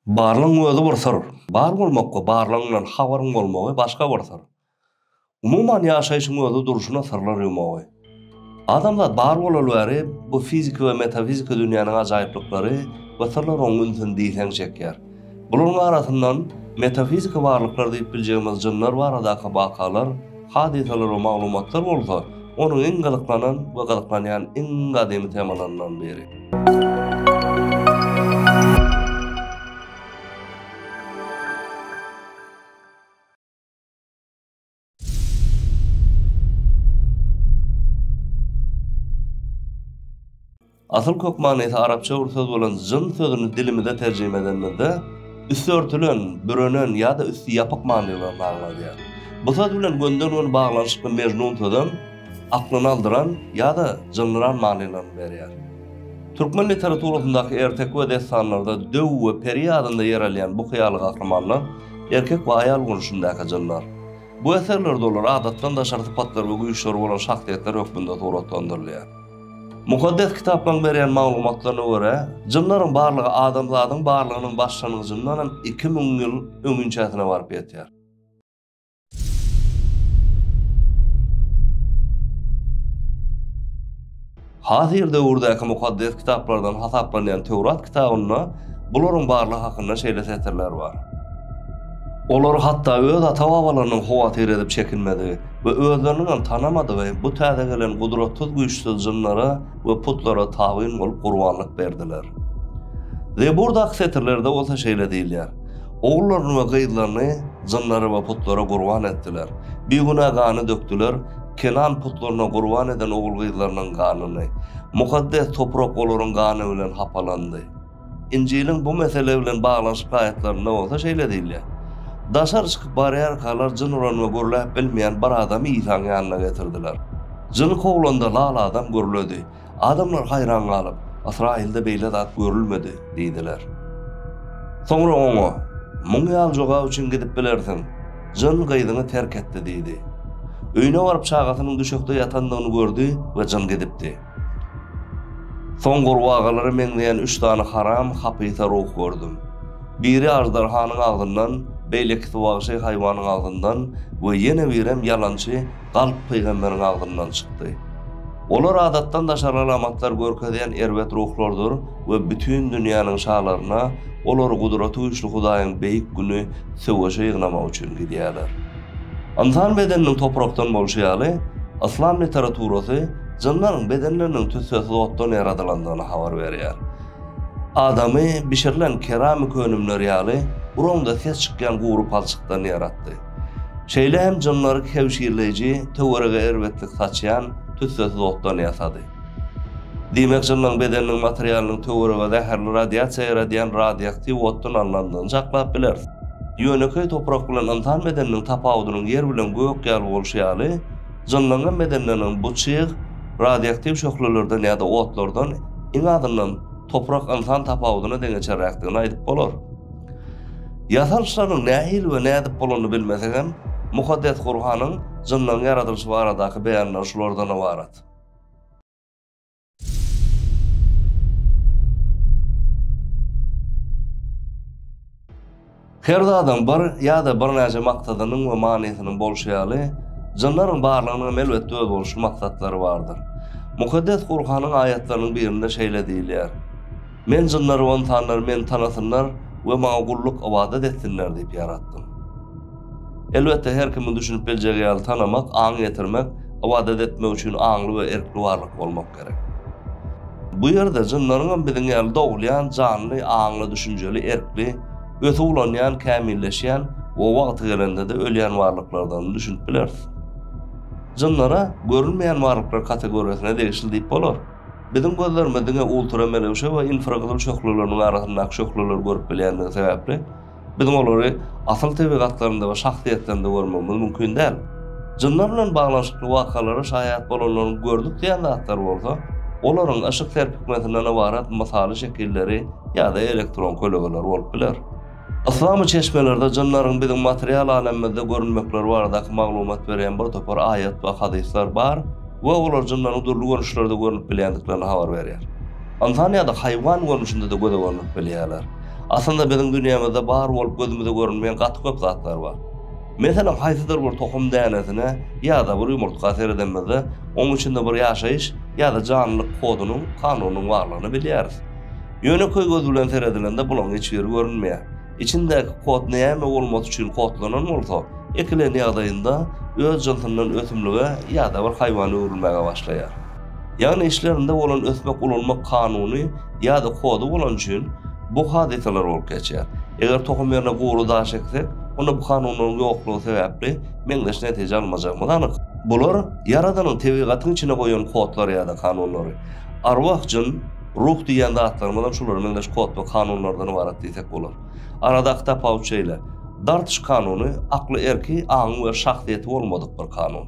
Barlygyň özi bir syr. Bar bolmak we barlygyňdan habaryň bolmagy başga bir syr. Umuman ýaşaýşyň özi durşuna syrlar ýumagy. Adamzat bar bolaly bäri bu fiziki we metafiziki dünýäniň ajaýyplyklary we syrlary oň ünsüni diýseň çekýär. Bularyň arasyndan metafiziki barlyklar diýip biljegimiz jynlar baradaky wakalar, Hadysalar we maglumatlar bolsa onuň iň gyzyklanan we gyzyklanýan iň gadymy temalaryndan biri. Asyl kök manysy arapça bir söz bolan jyn sözüni dilimize terjime edenimizde, üsti örtülen, bürenen ýa-da üsti ýapyk manylaryny aňladýar. Bu söz bilen gönden-göni baglanyşykly Mejnun sözem aklyny aldyran ýa-da jyndyran manylaryny berýär. Türkmen literaturasyndaky erteki we dessanlarda döw we peri adynda ýer alýan bu hyýaly gahrymanlar erkek we aýal görnüşindäki jynlar. Bu eserlerde olar adatdan daşary sypatlar we güýçleri bolan şahsyýetler hökmünde suratlandyrylýar. Mukaddes Kitaplaryň berýän maglumatlaryna görä, jynlaryň barlygy adamzadyň barlygynyň başlangyjyndanam iki müň ýyl öňinçäsine baryp ýetýär. Hazyr döwürdäki Mukaddes Kitaplardan hasaplanýan Töwrat kitabynda bularyň barlygy hakynda şeýle setirler bar, Olar hatda öz ata-babalarynyň howatyr edip çekinmedigi, we özleriniňem tanamadygy bu täze gelen gudratsyz-güýçsüz jynlara we putlara tabyn bolup gurbanlyk berdiler. Zeburdaky setirlerde bolsa şeýle diýilýär, Ogullaryny we gyzlaryny jynlara we putlara gurban etdiler, bigünä gany dökdüler, kenan putlaryna gurban eden ogul-gyzlarynyň ganyny, mukaddes toprak olaryň gany bilen hapalandy. Injiliň bu mesele bilen baglanyşykly aýatlarynda bolsa şeýle diýilýär, Daşary çykyp barýarkalar jyn uran we gürläp bilmeýän bir adamy Isaň ýanyna getirdiler. Jyny kowlanda lal adam gürledi. Adamlar haýran galyp, Ysraýylda beýle zat görülmedi diýdiler. Soňra oňa, Muň ýaly jogap üçin gidip bilersiň, jyn gyzyňy terk etdi diýdi. Öýüne baryp çagasynyň düşekde ýatandygyny gördi we jyn gidipdi. Soň gurbagalara meňzeýän üç sany haram hapysa ruh gördüm. Biri aždarhanyň agzyndan, beýlekisi wagşy haýwanyň agzyndan we ýene birem ýalançy galp pygamberiň agzyndan çykdy. Olar adatdan daşary alamatlar görkezýän erbet ruhlardyr we bütin dünýäniň şalaryna olary Gudratygüýçli Hudaýyň beýik güni söweşe ýygnamak üçin gidýärler. Ynsan bedeniniň toprakdan bolşy ýaly, yslam literaturasy jynlaryň bedenleriniň tüssesiz otdan ýaradylandygyny habar berýär. Adamy bişirilen keramik önümler ýaly buraňda ses çykýan gury palçykdan ýaratdy. Şeýle hem jynlary kebşirleýji, töwerege erbetlik saçýan tüssesiz otdan ýasady. Diýmek, jynlaryň bedeniniň materialynyň töwerege zäherli radiasiýa ýeredýän radioaktiw otdan alnandygyny çaklap bileris. Ýönekeý toprak bilen ynsan bedeniniň tapawudynyň ýer bilen gök ýaly bolşy ýaly, jynlaryň bedenleriniňem bu çyg radioaktiw şöhlelerden ýa-da otlardan, iň azyndan, toprak-ynsan tapawudyna deňeçerräkdigini aýdyp bolar. Ýasalyşlarynyň nähili we nädip bolanyny bilmesegem, Mukaddes Gurhanyň jynlaryň ýaradylyşy baradaky beýanlary şulardan ybarat. Her zadyň bir ýa-da birnäçe maksadynyň we manysynyň bolşy ýaly, jynlaryň barlygynyň hem elbetde özboluşly maksatlary bardyr. Mukaddes Gurhanyň aýatlarynyň birinde şeýle diýilýär. Men jynlary we ynsanlary Meni tanasynlar we Maňa gulluk, ybadat, etsinler diýip ýaratdym. Elbetde, her kimiň düşünip biljegi ýaly tanamak, aň ýetirmek, ybadat etmek üçin aňly we erkli barlyk bolmak gerek. Bu ýerde jynlaryň hem biziň ýaly dogulýan, janly, aňly, düşünjeli, erkli, ösüp ulanýan, kämilleşýän we wagty gelende-de ölýän barlyklardygyny düşünip bileris. Jynlara görünmeýän barlyklar kategoriýasyna degişli diýip bolar. Biziň gözlerimiz diňe ultramelewşe we infragyzyl şöhlelerini arasyndaky şöhleleri görüp bilýändigi sebäpli, biziň olary asyl tebigatlarynda we şahsyýetlerinde görmegimiz mümkin däl. Jynlar bilen baglanyşykly wakalara şaýat bolanlaryň gördük diýen zatlary bolsa, olaryň yşyk serpikmesinden ybarat mysaly şekilleri ýa-da elektron kölegeleri bolup biler. Yslamy çeşmelerde jynlaryň biziň material alemimizde görünmekleri baradaky maglumat berýän bir topar aýat we hadyslar bar we olar jynlaryň dürli görnüşlerde görnüp bilýändiklerini habar berýär. Ynsan ýa-da haýwan görnüşinde-de göze görnüp bilýärler. Aslynda biziň dünýämizde bar bolup gözümize görünmeýän gaty köp zatlar bar. Meselem haýsydyr bir tohum dänesine ýa-da bir ýumurtga seredemizde onuň içinde bir ýaşaýyş ýa-da janlylyk kodunyň, kanunynyň barlygyny bilýäris. Ýöne köý gözi bilen seredilende bulaň hiç ýeri görünmeýär. Içindäki kod näme bolmasy üçin kodlanan bolsa, ekilen ýagdaýynda öz jynsyndan ösümlige ýa-da bir haýwana öwrülmäge başlaýar. Ýagny içlerinde bolan ösmek ulalmak kanuny ýa-da kody bolany üçin bu hadysalar bolup geçýär. Eger tohum ýerine gury daş eksek, onda bu kanunlaryň ýoklugy sebäpli meňzeş netije almajagymyz anyk. Bular Ýaradanyň tebigatyň içine goýan kodlary ýa-da kanunlary. Arwah, jyn. Ruh diýýän zatlarymyzam şulara meňzeş kod we kanunlardan ybarat diýsek bolar. Aradaky tapawut şeýle, dartyş kanuny akly erki, aňy we şahsyýeti bolmadyk bir kanun.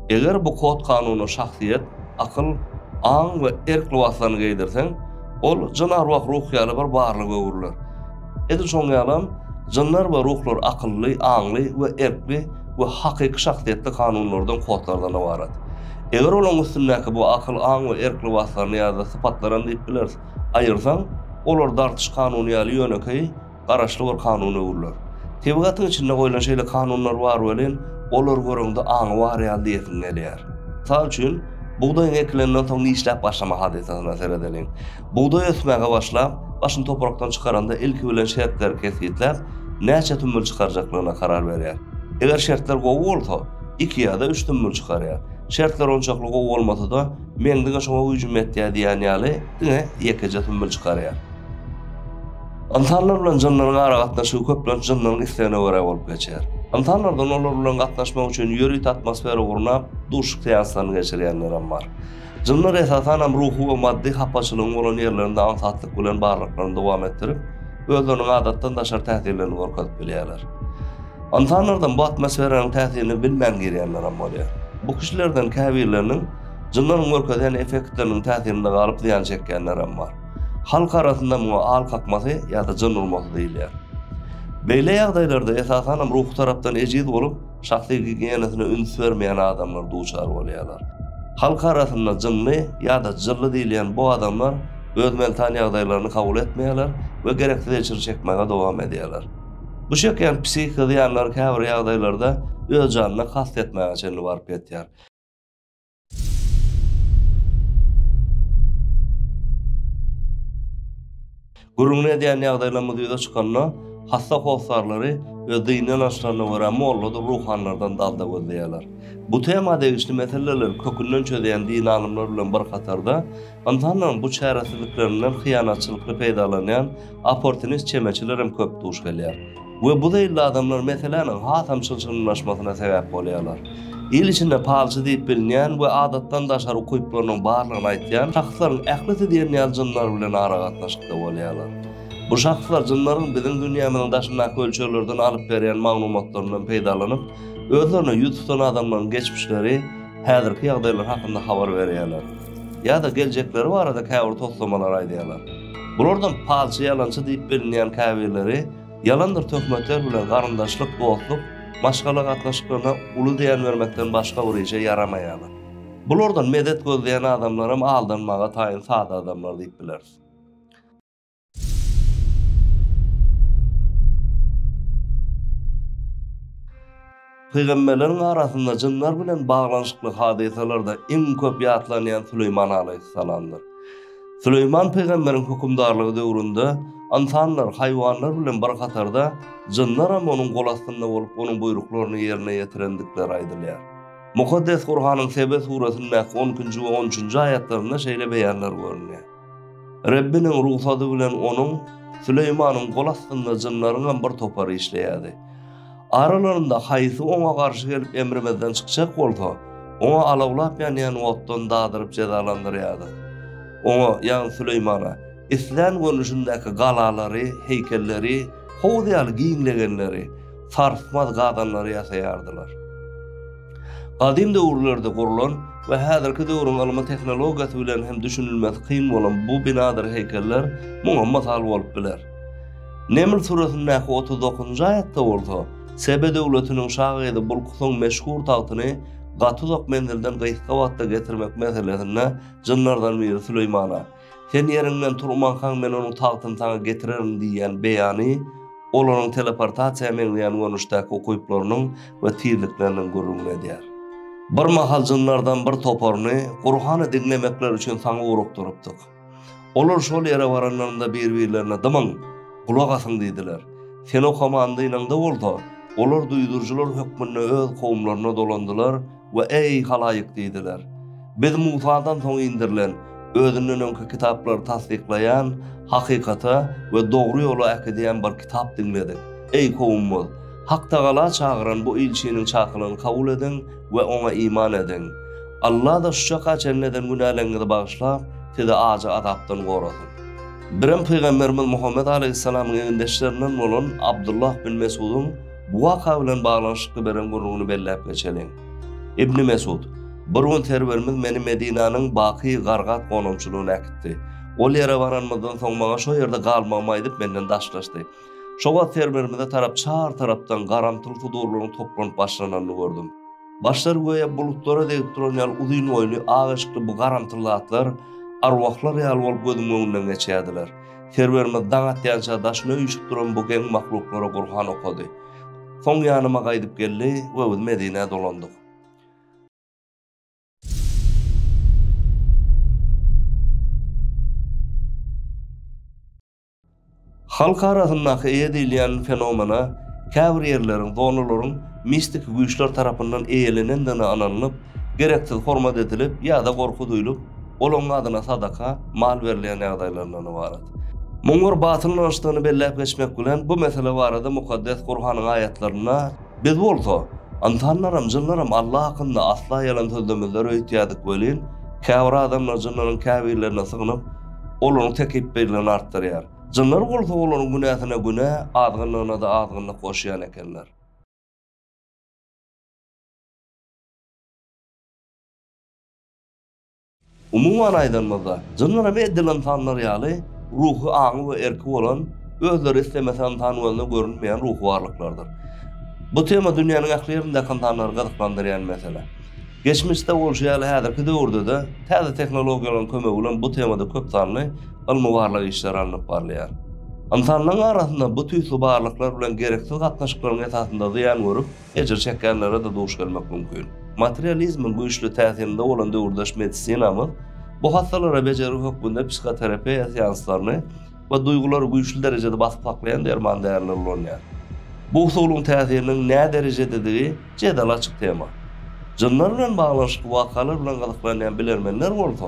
Eger bu kod kanuna şahsyýet, akyl, aň we erk lybaslaryny geýdirseň, ol jyn-arwah-ruh ýaly bir barlyga öwrüler. Edil şonuň ýalam, jynlar we ruhlar akylly, aňly we erkli we hakyky şahsyýetli kanunlardan, kodlardan ybarat. Eger olaryň üstündäki bu akyl, aň we erk lybaslaryny ýa-da sypatlaram diýip bileris, aýyrsaň, olar dartyş kanuny ýaly ýönekeý, garaşly bir kanuna öwrüler. Tebigatyň içinde goýlan şeýle kanunlar bar welin, olary göreňde aňy bar ýaly diýesiň gelýär. Mysal üçin, bugdaýyň ekilenden soň nişläp başlama hadysasyna seredeliň. Bugdaý ösmäge başlap, başyny toprakdan çykaranda ilki bilen şertleri kesgitläp, näçe sümmül çykarjaklygyna karar berýär. Eger şertler gowy bolsa, iki ýa-da üç sümmül çykarýar. Şertler onçakly gowy bolmasa-da, Meň diňe şoňa güýjüm ýetýär diýýän ýaly, diňe ýekeje sümmül çykarýar. Ynsanlar bilen jynlaryň aragatnaşygy köplenç jynlaryň islegine görä bolup geçýär. Ynsanlardan olar bilen gatnaşmak üçin ýörite atmosfera gurnap, duşuşyk seanslaryny geçirýänlerem bar. Jynlar esasanam ruhy we maddy hapaçylygyň bolan ýerlerinde aňsatlyk bilen barlyklaryny dowam etdirip, özleriniň adatdan daşary täsirlerini görkezip bilýärler. Ynsanlardan bu atmosferanyň täsirini bilmän girýänlerem bolýar. Bu kişilerden käbirleriniň jynlaryň görkezýän effektleriniň täsirinde galyp zyýan çekýänlerem bar. Halk arasynda muňa al kakmasy ýa-da jyn urmasy diýilýär. Beýle ýagdaýlarda esasanam ruhy tarapdan ejiz bolup, Şahsy gigiýenasyna üns bermeýän adamlar duçar bolýarlar. Halk arasynda jynly ýa-da jylly diýilýän bu adamlar öz mental ýagdaýlaryny kabul etmeýärler we gereksiz ejir çekmäge dowam edýärler. Bu çekýän psihiki zyýanlar käbir ýagdaýlarda öz janyna kast etmäge çenli baryp ýetýär. Gürrüňini edýän ýagdaýlarymyz ýüze çykanda, hassa hossarlary öz dini ynançlaryna görä molladyr ruhanylardan dalda gözleýärler. Bu tema degişli meseleleri kökünden çözýän dini alymlar bilen bir hatarda, Ynsanlaryň bu çäresizliklerinden hyýanatçylykly peýdalanýan opportunist çemeçilerem köp duş gelýär. We bu zeýilli adamlar meseläniň hasam çylşyrymlaşmasyna sebäp bolýarlar. Il içinde palçy diýip bilinýän we adatdan daşary ukyplarynyň barlygyny aýtýan şahslaryň ählisi diýen ýaly jynlar bilen aragatnaşykda bolýarlar. Bu şahslar jynlaryň biziň dünýämiziň daşyndaky ölçeglerden alyp berýän maglumatlaryndan peýdalanyp, özlerine ýüz tutan adamlaryň geçmişleri, häzirki ýagdaýlary hakynda habar berýärler. ýa-da geljekleri barada käbir toslamalary aýdýarlar. Bulardan palçy ýalançy diýip bilinýän käbirleri ýalandyr töhmetler bilen garyndaşlyk, dostluk, maşgala gatnaşyklaryna uly zyýan bermekden başga bir işe ýaramaýarlar. Bulardan medet gözleýän adamlaram aldanmaga taýyn sada adamlar diýip bileris. Pygamberleriň arasynda jynlar bilen baglanyşykly hadysalarda iň köp ýatlanýan Süleýman alaýhyssalamdyr. Süleýman pygamberiň hökümdarlygy döwründe ynsanlar, haýwanlar bilen bir hatarda jynlar hem onuň gol astynda bolup, onuň buýruklaryny ýerine ýetirendikleri aýdylýar. Mukaddes Gurhanyň Sebe suresindäki on ikinji we on üçünji aýatlarynda şeýle beýanlar görünýär. Rebbiniň rugsady bilen onuň, Süleýmanyň, gol astynda jynlaryňam bir topary işleýärdi. Aralarynda haýsy oňa garşy gelip emrimizden çykjak bolsa, oňa alawlap ýanýan otdan dadyryp jezalandyrýardyk. Oňa, ýagny Süleýmana, islän görnüşindäki galalary, heýkelleri, howuz ýaly giňlegenleri, sarsmaz gazanlary ýasaýardylar. Gadym döwürlerde gurlan we häzirki döwrüň ylmy tehnologiýasy bilen hem düşünilmesi kyn bolan bu binadyr heýkeller muňa mysal bolup biler. Neml süresindäki otuz dokuzynjy aýatda bolsa, Sebe döwletiniň şa gyzy Bulkusyň meşhur tagtyny gaty uzak menzilden gysga wagtda getirmek meselesinde jynlardan biri Süleýmana, Sen ýeriňden turmankaň men onuň tagtyny saňa getirerin diýýän beýany olaryň teleportasiýa meňzeýän görnüşdäki ukyplarynyň we tizlikleriniň gürrüňini edýär. Bir mahal jynlardan bir toparyny Gurhany diňlemekleri üçin saňa ugrukdyrypdyk. Olar şol ýere baranlarynda bir-birlerine Dymyň, gulak asyň diýdiler. Sen okamandynyňda bolsa, olar duýduryjylar hökmünde öz kowumlaryna dolandylar We eý, halaýyk! diýdiler. Biz Musadan soň indirilen, özünden öňki kitaplary tassyklaýan, hakykata we dogry ýola äkidýän bir kitap diňledik. Eý, kowumyz! Haktagala çagyran bu ilçiniň çakylygyny kabul ediň we oňa iman ediň. Alla-da şu çaka çenli eden günäleriňizi bagyşlap, sizi ajy azapdan gorasyn. Birem pygamberimiz Muhammet alaýhyssalamyň egindeşlerinden bolan Abdullah bin Mesgudyň Bu waka bilen baglanyşykly beren gürrüňini belläp geçeliň. Ibni Mesud, Bir gün Serwerimiz meni Medinäniň Baky Gargat gonamçylygyna äkitdi. Ol ýere baranymyzdan soň maňa şo ýerde galmagymy aýdyp menden daşlaşdy. Şo wagt Serwerimize tarap çar tarapdan garamtyl sudurlaryň toplanyp başlananyny gördüm. Başlary göýä bulutlara degip duran ýaly uzyn boýly, ak eşikli bu garamtyl zatlar arwahlar ýaly bolup gözümiň öňünden geçýärdiler. Serwerimiz daň atýança daşyna üýşüp duran bu geň mahluklara Gurhan okady. Soň ýanyma gaýdyp geldi we biz Medinä dolandyk. Halk arasyndaky eýe diýilýän fenomena käbir ýerleriň, zonalaryň mistiki güýçler tarapyndan eýelenendigine ynanylyp, gereksiz hormat edilip ýa-da gorky duýlup, olaryň adyna sadaka, mal berilýän ýagdaýlaryndan ybarat. Muň bir batyl ynançdygyny belläp geçmek bilen, bu mesele barada Mukaddes Gurhanyň aýatlarynda, Biz bolsa, ynsanlaram, jynlaram Alla hakynda asla ýalan sözlemezler öýtýärdik welin, käbir adamlar jynlaryň käbirlerine sygynyp, olaryň tekepbirligini artdyrýar. Jynlar bolsa olaryň günäsine günä, azgynlygyna-da azgynlyk goşýan ekenler. Umuman aýdanymyzda, jynlar hem edil ynsanlar ýaly ruhy aňy we erki bolan, özleri islemese ynsan gözüne görünmeýän ruhy barlyklardyr. Bu tema dünýäniň ähli ýerindäki ynsanlary gyzyklandyrýan mesele. Geçmişde bolşy ýaly häzirki döwürde-de täze tehnologiýalaryň kömegi bilen bu temada köp sanly ylmy-barlag işleri alnyp barylýar. Ynsanlaryň arasynda bu tüýsli barlyklar bilen gereksiz gatnaşyklaryň esasynda zyýan görüp, Ejir çekýänlere-de duş gelmek mümkin. Materializmiň güýçli täsirinde bolan döwürdeş medisinamyz bu hassalara bejergi hökmünde psihoterapiýa seanslaryny we duýgulary güýçli derejede basyp saklaýan derman därileri ulanýar. Bu usulyň täsiriniň näderejededigi jedel açyk tema. Jynlar bilen baglanyşykly wakalar bilen gyzyklanýan bilermenler bolsa,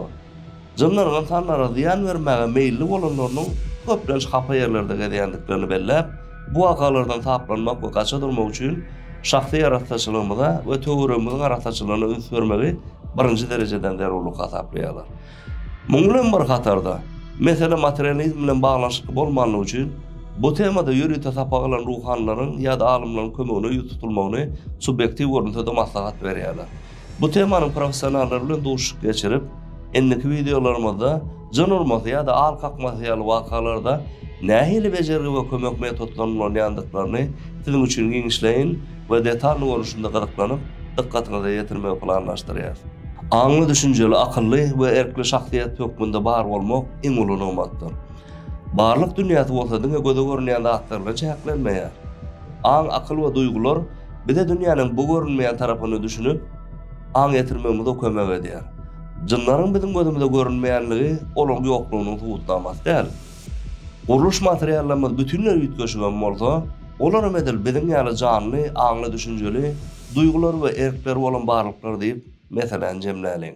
Jynlaryň ynsanlara zyýan bermäge meýilli bolanlarynyň köplenç hapa ýerlerde gezýändiklerini belläp, bu wakalardan saplanmak we gaça durmak üçin şahsy arassaçylygymyza we töweregimiziň arassaçylygyna üns bermegi birinji derejeden zerurlyk hasaplaýarlar. Munuň bilen bir hatarda, mesele materializm bilen baglanyşykly bolmanlygy üçin, bu temada ýörite sapak alan ruhanylaryň ýa-da alymlaryň kömegine ýüz tutulmagyny subýektiw görnüşde-de maslahat berýärler. Bu temanyň professionallary bilen duşuşyk geçirip, indiki wideolarymyzda jyn urmasy ýa-da al kakmasy ýaly wakalarda nähili bejergi we kömek metodlaryny ulanýandyklaryny siziň üçin giňişleýin we detalny görnüşinde gyzyklanyp, dykgatyňyza ýetirmegi planlaşdyrýarys. Aňly, düşünjeli, akylly we erkli şahsyýet hökmünde bar bolmak iň uly nygmatdyr. Barlyk dünýäsi bolsa diňe göze görünýän zatlar bilen çäklenmeýär. Aň, akyl we duýgular bize dünýäniň bu görünmeýän tarapyny düşünip, aň ýetirmegimize kömek edýär. Jynlaryň biziň gözümize görünmeýänligi olaryň ýoklugynyň subutnamasy däl. Gurluş materiallarymyz bütinleý üýtgeşik hem bolsa, olar hem edil biziň ýaly janly, aňly, düşünjeli, duýgulary we erkleri bolan barlyklar diýip, meseläni jemläliň.